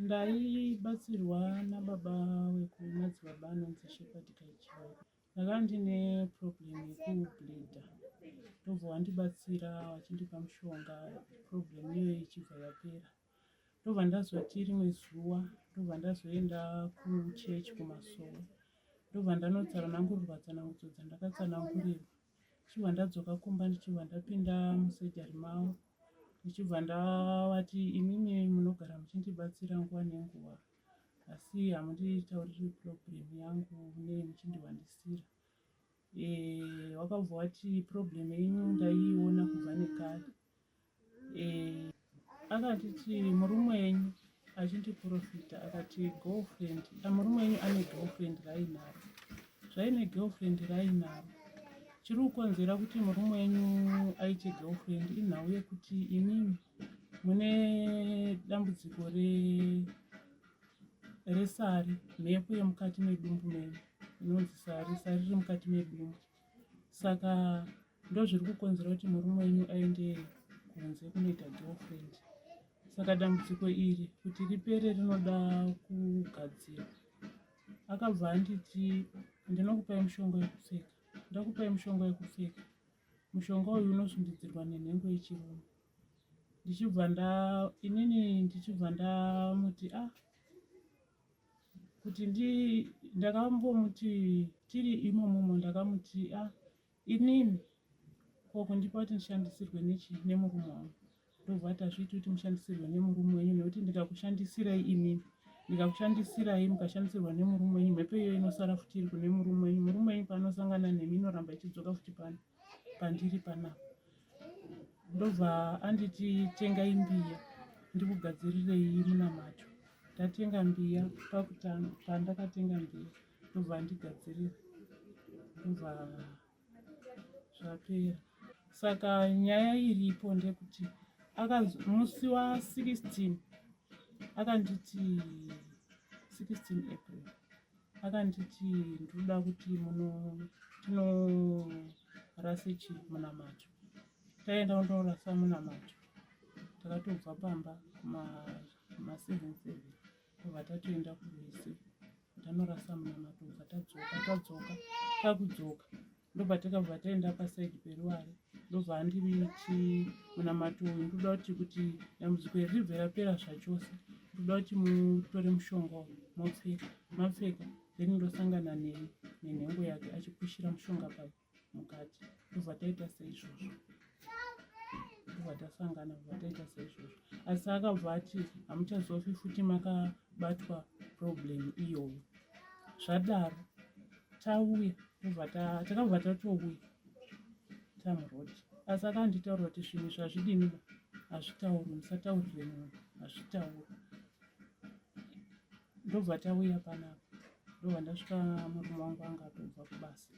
ndaibatsirwa nababa wekumadzibaba anonzi shepard kaichio ndakava ndine problem yekubleeda ndobva wandibatsira wachindipa mushonga problem iyoyo ichibva yapera ndobva ndazoti rimwe zuva ndobva ndazoenda kuchechi kumasowe ndobva ndanotsara nangurirwa tsanangudzo dzandakatsanangurirwa ndichibva ndadzoka kumba ndichibva ndapinda musejari mavo ndichibva ndavati imimi munogara muchindibatsira nguva nenguva asi hamunditauriri problem yangu ne muchindiwandisira eh, wakabva wati problem yenyu ndaiiona kubva nekare eh, akatiti murume wenyu achindiprofita akati girlfriend ah, murume wenyu ane girlfriend rainaro zvaine girlfriend rainaro chiri kukonzera kuti murume wenyu aite girlfriend inhau yekuti imimi mune dambudziko resari mhepo yemukati medumbu menyu inonzi sari sari riri mukati medumbu saka Ndozviri kukonzera kuti murume wenyu aende kunze kunoita girlfriend. Saka dambudziko iri kuti ripere rinoda kugadzirwa. Akabva anditi ndinokupai mushonga wekupfeka. Ndakupai mushonga wekupfeka. Mushonga uyu unosundidzirwa nenhengo yechirume. Ndichibva nda inini ndichibva ndamuti ah kuti ndi ndakambomuti tiri imomomo ndakamuti ah Inini ko kundipa kuti ndishandisirwe nechii nemurume wangu ndobva ati hazviiti kuti mushandisirwe nemurume wenyu nekuti ndikakushandisirai inini ndikakushandisirai mukashandisirwa nemurume wenyu mhepo iyo inosara futi iri kune murume wenyu murume wenyu paanosangana nemi inoramba ichidzoka futi pano pandiri panapa ndobva anditi tengai mbiya ndikugadzirirei munamato ndatenga mbiya pakutanga pandakatenga mbiya ndobva andigadzirira ndobva zvapera saka nyaya iripo ndekuti musi wa 16 akanditi 16 april akanditi ndoda kuti muno tinorase chi munamato taenda kundorasa munamato takatobva pamba ma, ma 77 tobva tatoenda kurwizi tanorasa munama tobva tadzoka tadzoka takudzoka ndobva takabva taenda pasaidi peruware ndobva andiri ti munamato uyu ndoda kuti kuti dambudziko iri ribve rapera zvachose ndoda kuti mutore mushonga uyu mopfeka mapfeka then ndosangana neni nenhengo yake achipushira mushonga pake mukati ndobva taita seizvozvo ndobva tasangana bva taita seizvozvo asi akabva ati hamuchazofi futi makabatwa problem iyoyo zvadaro tauya ndobva takabva tatouya tamuroad asi akanditaura kuti zvinhu zvazvidini hazvitauri musataurire munhu hazvitauri ndobva tauya panapa ndobva ndasvika murume wangu anga atobva kubasa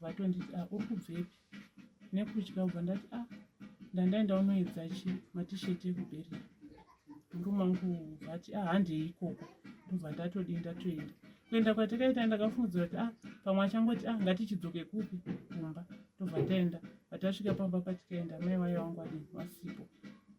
vatonditi a ah, uri kubvepi nekutya ubva ndati a ah, ndandaenda unoedza chi matisheti ekubereka murume wangu vati a ah, handei ikoko ndobva ndatodi ndatoenda kuenda kwatakaita ndakafungidzira kuti a pamwe achangoti a ngatichidzoke kupi kumba ndobva taenda patasvika pamba patikaenda mai vaye wangu adii vasipo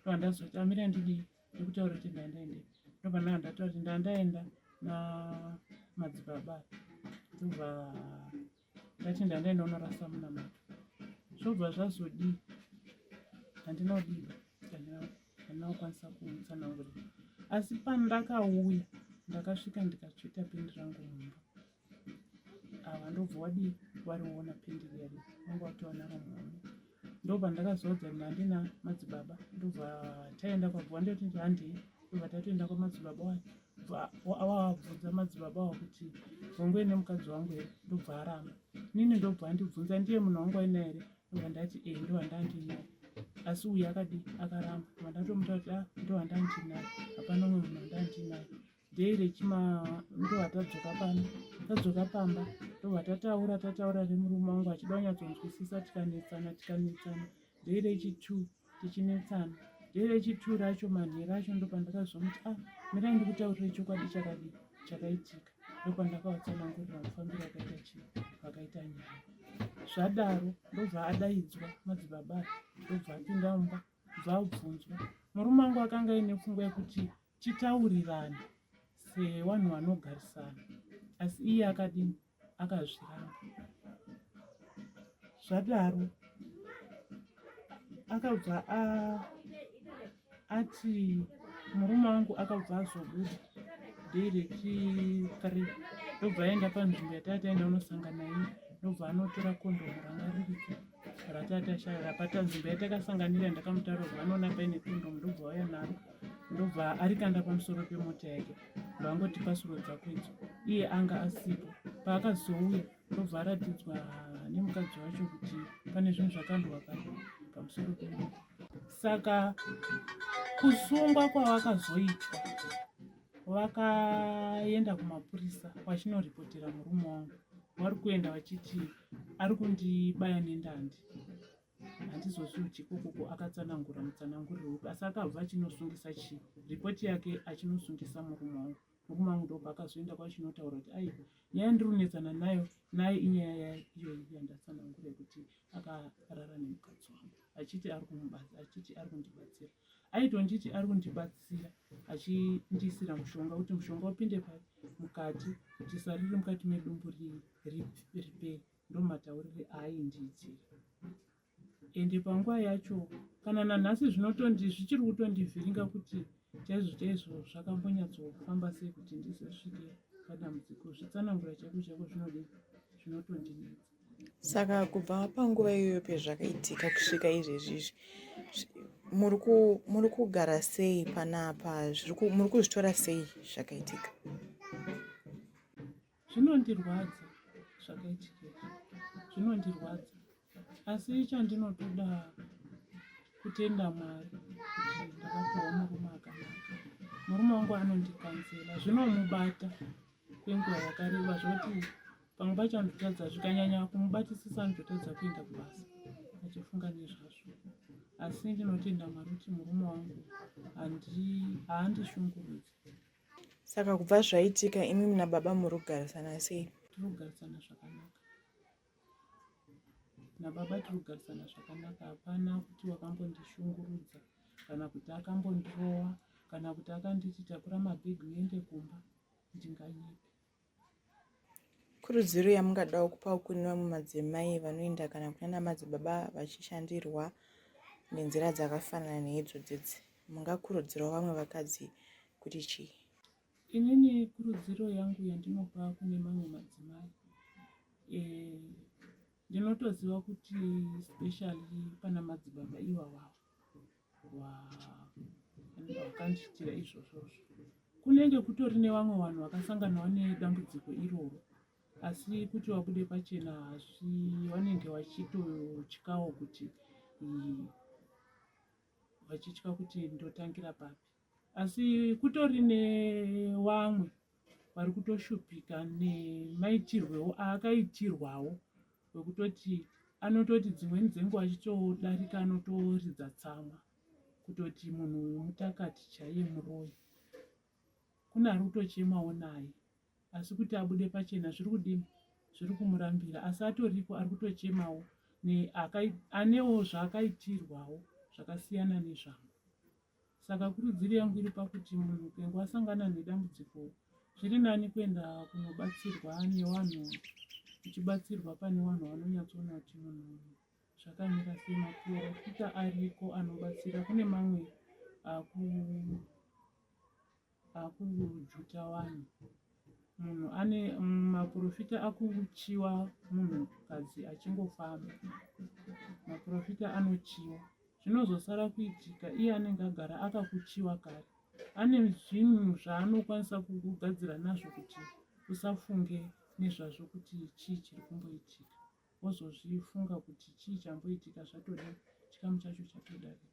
ndobva ndazoti amire ndidii ndikutaura kuti ndaendaende ndobva ndaa ndataura kuti ndaa ndaenda namadzibaba ndobva ndati ndaa ndaenda unorasa munamato zvobva zvazodii handina kudii handina kukwanisa kumutsanangurira asi pandakauya ndakasvika ndikatsveta pendi rangu mumba ava ah, ndobva wadii wariona pending yari vanga watowana ramhani ndobva ndakazoudza kuti handina madzibaba ndobva taenda kwabva ndoti handei ndobva tatoenda kwamadzibaba wayo awabvunza madzibaba awo kuti vongoi nemukadzi wangu here ndobva aramba nini ndobva andibvunza ndiye munhu wangu aina here ndobva ndati e eh, ndovandandiinai asi uyu akadii akaramba ndobva ndatomuta kuti a ah, ndovandandiinai hapana umwe munhu andandiinai day rechima ndova tadzoka pano tadzoka pamba ndova tataura tataura nemurume wangu achida kunyatsonzwisisa tikanetsana tikanetsana day rechitu tichinetsana day rechitu racho manhera acho ndopandakazomuti a ah, mirai ndikutaurire chokwadi chakadi chakaitika ndopandakavatsanangurira kufambira akaita chii vakaita nyaya zvadaro ndobva adaidzwa madzibaba ndobva apinda mumba bva abvunzwa murume wangu akanga aine pfungwa yekuti Chitaurirana sevanhu vanogarisana asi iye akadini akazviramba zvadaro akabva ati murume wangu akabva azobuda day rechithree ndobva aenda panzvimbo yatataenda unosangana iye ndobva anotora kondomu ranga ririko ratatashaya rapatanzvimbo yatakasanganira ndakamutaura kuti vanoona paine kondomu ndobva waya naro ndobva arikanda pamusoro pemota yake ndovangoti pasuro dzako idzo iye anga asipo paakazouya ndobva aratidzwa nemukadzi wacho kuti pane zvinhu zvakandwa pano pamusoro pemota saka kusungwa kwavakazoitwa vakaenda kumapurisa vachinoripotera murume wangu vari kuenda vachiti ari kundibaya nendandi handizozviudyi kokoko akatsanangura mutsananguriro upi asi akabva achinosungisa chii ripoti yake achinosungisa murume wangu murume wangu ndobva akazoenda kwachinotaura kuti ai nyaya yandirunetsana nayo naye inyaya yaiyoyi yandatsanangura yekuti akarara nemukadzi wangu achiti ari kumubatsira achiti ari kundibatsira aitonditi ari kundibatsira achindiisira mushonga kuti mushonga upinde mukati kuti sari riri mukati medumbu ripere ndomataurire aaindiitira ende panguva yacho kana nanhasi zvinotondi zvichiri kutondivhiringa kuti chaizvo chaizvo zvakambonyatsofamba sei kuti ndizosvike padambudziko zvitsanangura chaiko chaiko zvinodi zvinotondinetsa saka kubva panguva iyoyo pezvakaitika kusvika izvezvi izvi muri kugara sei panapa muri kuzvitora sei zvakaitika zvinondirwadza zvakaitika zvinondirwadza asi chandinotoda kutenda mwari kuti ndakapiwa murume akanaka murume wangu anondikanzela zvinomubata kwenguva yakareba zvoti pamwe pacho anototadza zvikanyanya kumubatisisa anototadza kuenda kubasa achifunga nezvazvo asi ndinotenda mwari kuti murume wangu haandishungurudzi Saka kubva zvaitika imi mna baba muri kugarisana sei? Tiri kugarisana zvakanaka nababa, tiri kugarisana zvakanaka. Hapana kuti wakambondishungurudza kana kuti akambondirowa kana kuti akanditi takura mabhegi uende kumba ndinganyepe. Kurudziro yamungadawo kupawo kune vamwe madzimai vanoenda kana kunana madzibaba vachishandirwa nenzira dzakafanana neidzo dzidzi mungakurudzirawo vamwe vakadzi kuti chii inini kurudziro yangu yandinopa kune mamwe madzimai eh, ndinotoziva kuti specially pana madzibaba ivavavo vakandiitira izvozvozvo kunenge kutori nevamwe vanhu vakasanganawo nedambudziko iroro asi kuti vabude pachena asi vanenge vachitotyawo kuti vachitya kuti ndotangira papi asi kutori nevamwe vari kutoshupika nemaitirwewo aakaitirwawo wekutoti anototi dzimweni dzenguva achitodarika anotoridza tsamwa kutoti munhu uyu mutakati chaiye muroyi kune ari kutochemawo naye asi kuti abude pachena zviri kudini zviri kumurambira asi atoriko ari kutochemawo anewo zvaakaitirwawo zvakasiyana nezvangu Saka kurudziro yangu iri pakuti munhu upengo asangana nedambudziko zviri nani kuenda kunobatsirwa nevanhu uchibatsirwa pane vanhu vanonyatsoona kuti munhu zvakamira sei maporofita ariko anobatsira kune mamwe aku Akujuta wani munhu ane maprofita akuchiwa munhu kadzi achingofamba maprofita anochiwa zvinozosara kuitika iye anenge agara akakuchiwa kare ane zvinhu zvaanokwanisa kugadzira nazvo kuti usafunge nezvazvo kuti chii chiri kumboitika wozozvifunga kuti chii chamboitika zvatode chikamu chacho chatodarika